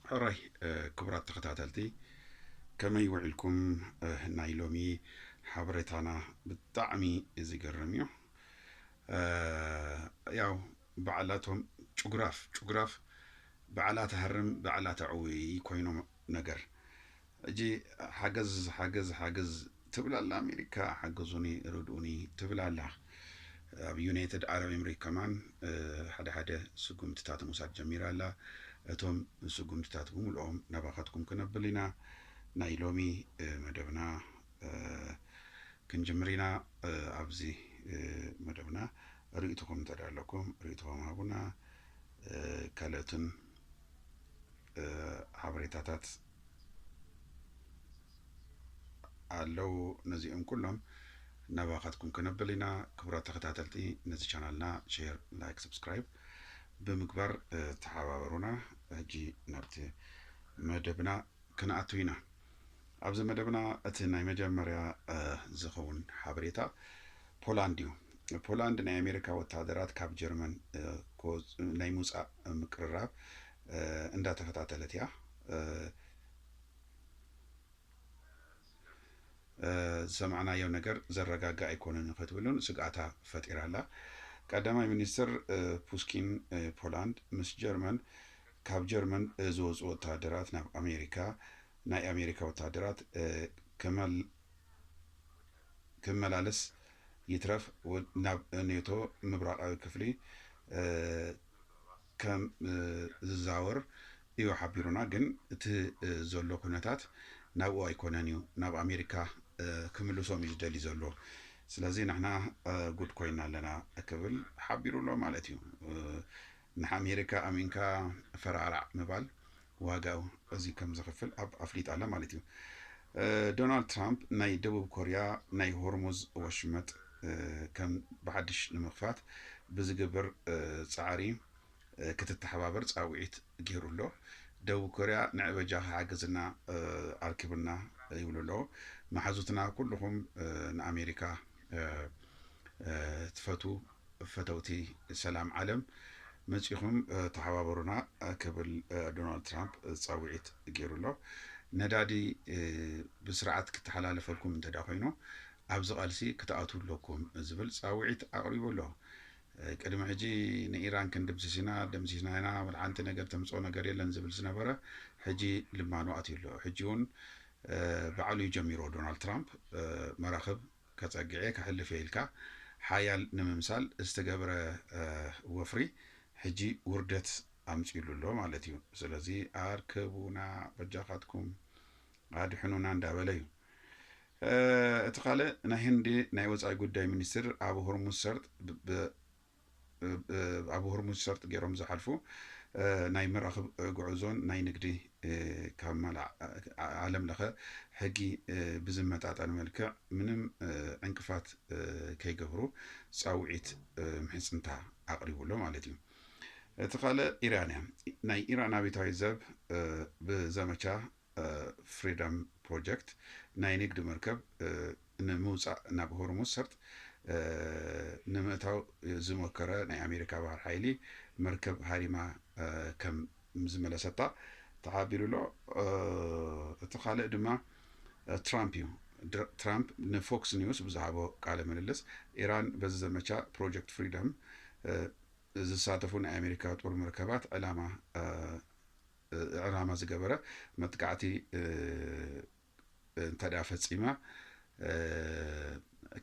ሕራይ ክቡራት ተኸታተልቲ ከመይ ውዒልኩም? ናይ ሎሚ ሓበሬታና ብጣዕሚ ዝገርም እዩ። ያው በዓላቶም ጭጉራፍ ጭጉራፍ በዓላ ትሃርም በዓላ ተዕውይ ኮይኖም ነገር ሕጂ ሓገዝ ሓገዝ ሓገዝ ትብል ኣላ ኣሜሪካ ሓግዙኒ ርድኡኒ ትብል ኣላ ኣብ ዩናይትድ ዓረብ ኤምሬት ከማን ሓደ ሓደ ስጉምትታት ምውሳድ ጀሚራ ኣላ እቶም ስጉምትታት ብምልኦም ናባኻትኩም ክነብል ኢና ናይ ሎሚ መደብና ክንጅምር ኢና ኣብዚ መደብና ርእይትኹም እንተ ኣለኩም ርእይትኹም ሃቡና ካልኦትን ሓበሬታታት ኣለው ነዚኦም ኩሎም ናባኻትኩም ከነብል ኢና ክቡራት ተኸታተልቲ ነዚ ቻናልና ሼር ላይክ ሰብስክራይብ ብምግባር ተሓባበሩና ሕጂ ናብቲ መደብና ክንኣቱ ኢና ኣብዚ መደብና እቲ ናይ መጀመርያ ዝኸውን ሓበሬታ ፖላንድ እዩ። ፖላንድ ናይ ኣሜሪካ ወታሃደራት ካብ ጀርመን ናይ ምውፃእ ምቅርራብ እንዳተኸታተለት እያ። ዝሰማዕናዮ ነገር ዘረጋግእ ኣይኮነን ክትብልን ስግኣታ ፈጢራ ኣላ። ቀዳማይ ሚኒስትር ፑስኪን ፖላንድ ምስ ጀርመን ካብ ጀርመን ዝወጹ ወተሃደራት ናብ ኣሜሪካ ናይ ኣሜሪካ ወተሃደራት ክመላለስ ይትረፍ ናብ ኔቶ ምብራቓዊ ክፍሊ ከም ዝዛወር እዩ ሓቢሩና ግን እቲ ዘሎ ኩነታት ናብኡ ኣይኮነን እዩ ናብ ኣሜሪካ ክምልሶም እዩ ዝደሊ ዘሎ ስለዚ ንሕና ጉድ ኮይና ኣለና ክብል ሓቢሩ ኣሎ ማለት እዩ። ንሓሜሪካ ኣሚንካ ፈራዕራዕ ምባል ዋጋ እዚ ከም ዘኽፍል ኣብ ኣፍሊጣ ኣላ ማለት እዩ። ዶናልድ ትራምፕ ናይ ደቡብ ኮርያ ናይ ሆርሙዝ ወሽመጥ ከም ብሓድሽ ንምኽፋት ብዝግብር ጻዕሪ ክትተሓባበር ጻውዒት ጌሩ ኣሎ። ደቡብ ኮርያ ንዕበጃኺ ሓግዝና ኣርክብና ይብሉ ኣለዉ። መሓዙትና ኩሉኹም ንኣሜሪካ ትፈትዉ ፈተውቲ ሰላም ዓለም መጺኹም ተሓባበሩና ክብል ዶናልድ ትራምፕ ጻውዒት ገይሩ ኣሎ። ነዳዲ ብስርዓት ክተሓላለፈልኩም እንተድኣ ኮይኑ ኣብዚ ቃልሲ ክትኣትዉ ኣለኩም ዝብል ጻውዒት ኣቕሪቡ ኣሎ። ቅድሚ ሕጂ ንኢራን ክንድምስስ ኢና ደምሲስና ኢና ወላ ሓንቲ ነገር ተምጽኦ ነገር የለን ዝብል ዝነበረ ሕጂ ልማኑ ኣትዩ ኣሎ። ሕጂ እውን ባዕሉ እዩ ጀሚሮ ዶናልድ ትራምፕ መራኽብ ከጸግዕ'የ ከሕልፍ'የ ኢልካ ሓያል ንምምሳል ዝተገብረ ወፍሪ ሕጂ ውርደት ኣምጺኡሉ ኣሎ ማለት እዩ። ስለዚ ኣርከቡና በጃኻትኩም ኣድሕኑና እንዳበለ እዩ። እቲ ካልእ ናይ ህንዲ ናይ ወጻኢ ጉዳይ ሚኒስትር ኣብ ሆርሙዝ ሰርጥ ኣብ ሆርሙዝ ሰርጥ ገይሮም ዝሓልፉ ናይ መራኽብ ጉዕዞን ናይ ንግዲ ካብ ማላዕ ዓለም ለኸ ሕጊ ብዝመጣጠን መልክዕ ምንም ዕንቅፋት ከይገብሩ ፃውዒት ምሕፅንታ ኣቕሪቡሎ ማለት እዩ። እቲ ካልእ ኢራን እያ። ናይ ኢራን ኣቤታዊ ዘብ ብዘመቻ ፍሪደም ፕሮጀክት ናይ ንግዲ መርከብ ንምውጻእ ናብ ሆርሙዝ ሰርጥ ንምእታው ዝሞከረ ናይ ኣሜሪካ ባህር ሓይሊ መርከብ ሃሪማ ከም ዝመለሰታ ተሓቢሩ ኣሎ። እቲ ካልእ ድማ ትራምፕ እዩ። ትራምፕ ንፎክስ ኒውስ ብዝሃቦ ቃለ ምልልስ ኢራን በዚ ዘመቻ ፕሮጀክት ፍሪደም ዝሳተፉ ናይ ኣሜሪካ ጦር መርከባት ዕላማ ዕላማ ዝገበረ መጥቃዕቲ እንተድኣ ፈጺማ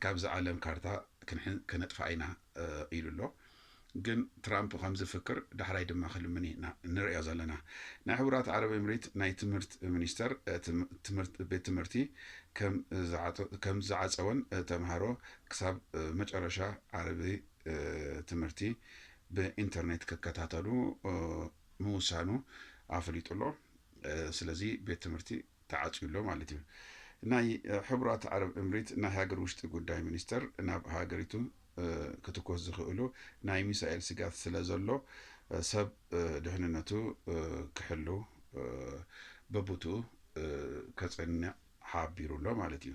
ካብዚ ዓለም ካርታ ከነጥፍኣ ኢና ኢሉ ኣሎ። ግን ትራምፕ ከም ዝፍክር ዳሕራይ ድማ ክልምን ኢና ንርእዮ ዘለና። ናይ ሕቡራት ዓረብ ኤምሬት ናይ ትምህርት ሚኒስተር ቤት ትምህርቲ ከም ዝዓጸወን ተምሃሮ ክሳብ መጨረሻ ዓርቢ ትምህርቲ ብኢንተርኔት ክከታተሉ ምውሳኑ ኣፍሊጡ ኣሎ። ስለዚ ቤት ትምህርቲ ተዓጽዩ ኣሎ ማለት እዩ። ናይ ሕቡራት ዓረብ እምሪት ናይ ሃገር ውሽጢ ጉዳይ ሚኒስተር ናብ ሃገሪቱ ክትኮስ ዝኽእሉ ናይ ሚሳኤል ስግኣት ስለ ዘሎ ሰብ ድሕንነቱ ክሕሉ በቡትኡ ከጸንዕ ሓቢሩ ኣሎ ማለት እዩ።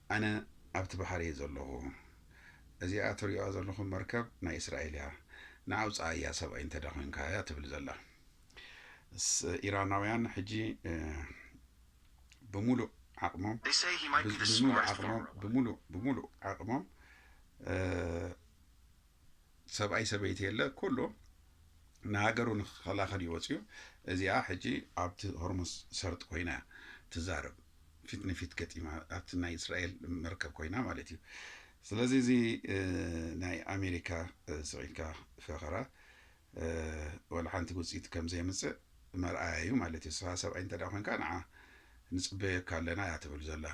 ኣነ ኣብቲ ባሕሪ እየ ዘለኹ። እዚኣ ትርእዩዋ ዘለኹም መርከብ ናይ እስራኤል እያ። ንዓ ውጽኣያ ሰብኣይ እንተ ድኣ ዄንካ እያ ትብል ዘላ። ስ፣ ኢራናውያን ሕጂ ብምሉእ ዓቕሞም፣ They say he might be the ብዝምሉእ smartest ዓቕሞም፣ farmer alive. ብምሉእ፣ ብምሉእ ዓቕሞም፣ እ፣ ሰብኣይ ሰበይቲ የለ ኩሉ ንሃገሩ ንክኸላኸል እዩ ወፅዩ እዚኣ ሕጂ ኣብቲ ሆርሙስ ሰርጥ ኮይና እያ ትዛረብ ፊት ንፊት ገጢማ ኣብቲ ናይ እስራኤል መርከብ ኮይና ማለት እዩ ስለዚ እዚ ናይ ኣሜሪካ ስዒድካ ፈኸራ ወላ ሓንቲ ውፅኢት ከም ዘየምፅእ መርኣያ እዩ ማለት እዩ ስኻ ሰብኣይ እንተ ኮንካ ንዓ ንፅበየካ ኣለና እያ ትብል ዘላ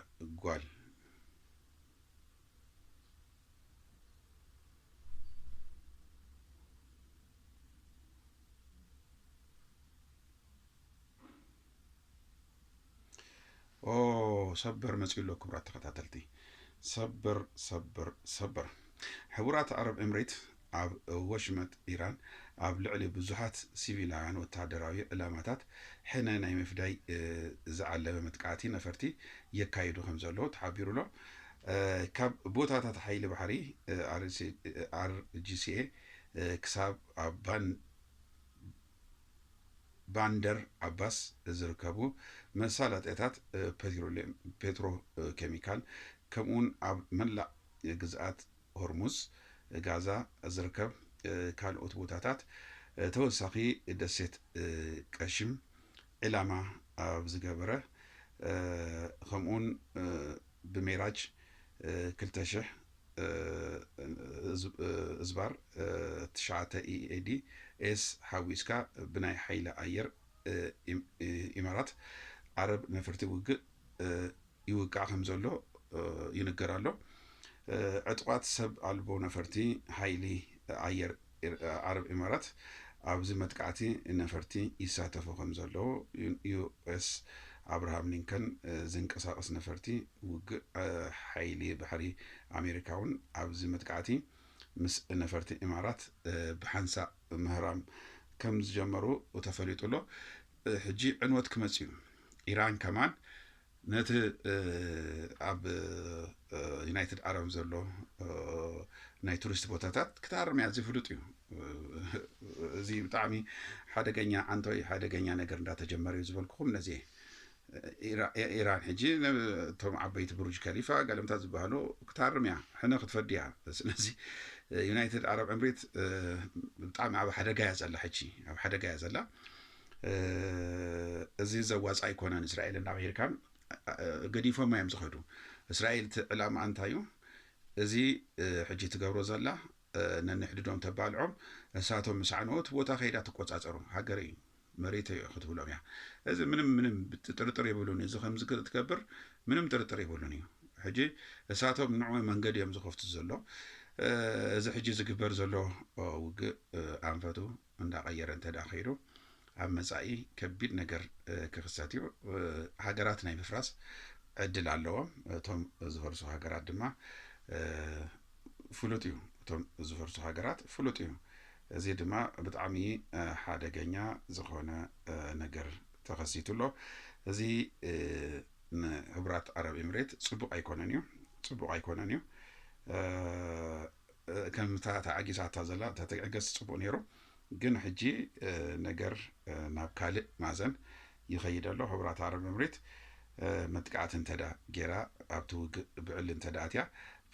ጓል ኦ ሰበር መፅኡ ኣሎ ክቡራት ተኸታተልቲ ሰበር ሰበር ሰበር ሕቡራት ዓረብ ኤምሬት ኣብ ወሽመጥ ኢራን ኣብ ልዕሊ ብዙሓት ሲቪላውያን ወተሃደራዊ ዕላማታት ሕነ ናይ ምፍዳይ ዝዓለመ መጥቃዕቲ ነፈርቲ የካይዱ ከምዘለዉ ተሓቢሩ'ሎ። ካብ ቦታታት ሓይሊ ባሕሪ RGCA ክሳብ ኣብ ባንደር ዓባስ ዝርከቡ መሳለጥያታት ፔትሮኬሚካል ከምኡ'ውን ኣብ መላእ ግዝኣት ሆርሙዝ፣ ጋዛ ዝርከብ ካልኦት ቦታታት ተወሳኺ ደሴት ቀሽም ዒላማ ኣብ ዝገበረ ከምኡውን ብሜራጅ ክልተ ሽሕ እዝባር ትሽዓተ EAD፣ ኤስ ሓዊስካ ብናይ ሓይሊ ኣየር ኢማራት ዓረብ ነፈርቲ ውግእ ይውቃዕ ከምዘሎ ይንገር ኣሎ። ዕጡቓት ሰብ ኣልቦ ነፈርቲ ሓይሊ ኣየር ዓረብ ኢማራት ኣብዚ መጥቃዕቲ ነፈርቲ ይሳተፉ ከምዘለዉ ዩኤስ ኣብርሃም ሊንከን ዝንቀሳቐስ ነፈርቲ ውግእ ሓይሊ ባሕሪ ኣሜሪካ እውን ኣብዚ መጥቃዕቲ ምስ ነፈርቲ ኢማራት ብሓንሳእ ምህራም ከምዝጀመሩ ተፈሊጡ ኣሎ። ሕጂ ዕንወት ክመጽእ እዩ። ኢራን ከማን ነቲ ኣብ ዩናይትድ ዓረብ ዘሎ ናይ ቱሪስት ቦታታት ክተኣርም እያ እዚ ፍሉጥ እዩ እዚ ብጣዕሚ ሓደገኛ ዓንቶይ ሓደገኛ ነገር እንዳተጀመረ እዩ ዝበልኩኹም ነዚ ኢራን ሕጂ እቶም ዓበይቲ ብሩጅ ከሊፋ ገለምታ ዝበሃሉ ክታርም እያ ሕነ ክትፈዲ እያ ስለዚ ዩናይትድ ዓረብ ዕምሪት ብጣዕሚ ኣብ ሓደጋ እያ ዘላ ሕጂ ኣብ ሓደጋ እያ ዘላ እዚ ዘዋጽእ ኣይኮነን እስራኤል እና ኣሜሪካ ገዲፎማ እዮም ዝኸዱ እስራኤል እቲ ዕላማኣ እንታይ እዩ እዚ ሕጂ ትገብሮ ዘላ ነንሕድዶም ተባልዖም እሳቶም ምስ ዓነዎ እቲ ቦታ ከይዳ ትቆጻጸሩ ሃገር እዩ መሬት እዩ ክትብሎም እያ እዚ ምንም ምንም ጥርጥር የብሉን እዚ ከምዚ ክትገብር ምንም ጥርጥር የብሉን እዩ ሕጂ እሳቶም ንዑ መንገዲ እዮም ዝኸፍቱ ዘሎ እዚ ሕጂ ዝግበር ዘሎ ውግእ ኣንፈቱ እንዳቐየረ እንተድኣ ከይዱ ኣብ መጻኢ ከቢድ ነገር ክኽሰት እዩ። ሃገራት ናይ ምፍራስ ዕድል ኣለዎም። እቶም ዝፈርሱ ሃገራት ድማ ፍሉጥ እዩ እቶም ዝፈርሱ ሃገራት ፍሉጥ እዩ። እዚ ድማ ብጣዕሚ ሓደገኛ ዝኾነ ነገር ተኸሲቱ ኣሎ። እዚ ንሕቡራት ዓረብ ኤምሬት ጽቡቕ ኣይኮነን እዩ ጽቡቕ ኣይኮነን እዩ። ከም እታ ተዓጊሳታ ዘላ እንተትዕገስ ጽቡቅ ነይሩ ግን ሕጂ ነገር ናብ ካልእ ማዘን ይኸይድ ኣሎ ሕቡራት ዓረብ ኤምሬት መጥቃዕቲ እንተዳ ጌራ ኣብቲ ውግእ ብዕሊ እንተዳ ኣትያ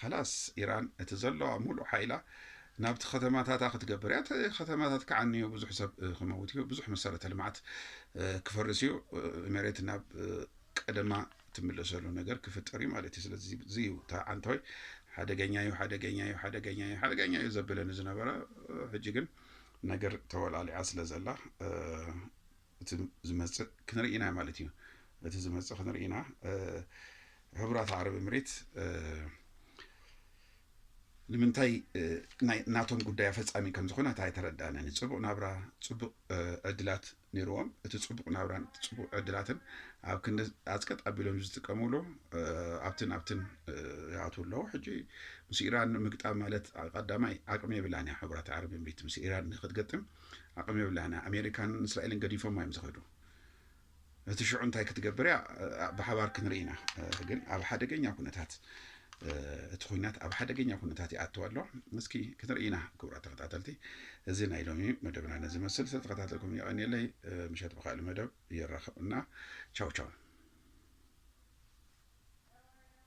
ኸላስ ኢራን እቲ ዘለዋ ሙሉእ ሓይላ ናብቲ ከተማታታ ክትገብር እያ እቲ ከተማታት ክዓኑ እዩ ብዙሕ ሰብ ክመውት እዩ ብዙሕ መሰረተ ልምዓት ክፈርስ እዩ ኤሜሬት ናብ ቀደማ እትምለሰሉ ነገር ክፍጠር እዩ ማለት እዩ ስለዚ እዚ እዩ እታ ዓንቶይ ሓደገኛ እዩ ሓደገኛ እዩ ሓደገኛ እዩ ሓደገኛ እዩ ዘብለኒ ዝነበረ ሕጂ ግን ነገር ተወላሊዓ ስለ ዘላ እቲ ዝመፅእ ክንርኢ ኢና ማለት እዩ እቲ ዝመፅእ ክንርኢ ኢና ሕቡራት ዓረብ ምሪት ንምንታይ ናቶም ጉዳይ ኣፈፃሚ ከም ዝኾነ እታ ኣይተረዳንን ፅቡቅ ናብራ ፅቡቅ ዕድላት ነይርዎም እቲ ጽቡቕ ናብራን እቲ ጽቡቕ ዕድላትን ኣብ ክንዲ ኣጽቀጥ ኣቢሎም ዝጥቀምሉ ኣብትን ኣብትን ይኣትዉ ኣለዉ ሕጂ ምስ ኢራን ምግጣም ማለት ቀዳማይ ዓቅሚ የብላን እያ ሕቡራት ዓረብ እምሪት ምስ ኢራን ንክትገጥም ዓቅሚ የብላን እያ ኣሜሪካን እስራኤልን ገዲፎም እዮም ዝኸዱ እቲ ሽዑ እንታይ ክትገብር እያ ብሓባር ክንርኢ ኢና ግን ኣብ ሓደገኛ ኩነታት እቲ ኩናት ኣብ ሓደገኛ ኩነታት ይኣትው ኣሎ። እስኪ ክንርኢ ኢና ክቡራት ተኸታተልቲ፣ እዚ ናይ ሎሚ መደብና ነዚ መስል ስለተኸታተልኩም የቐንየለይ። ምሸት ብካልእ መደብ የራኽብና። ቻው ቻው።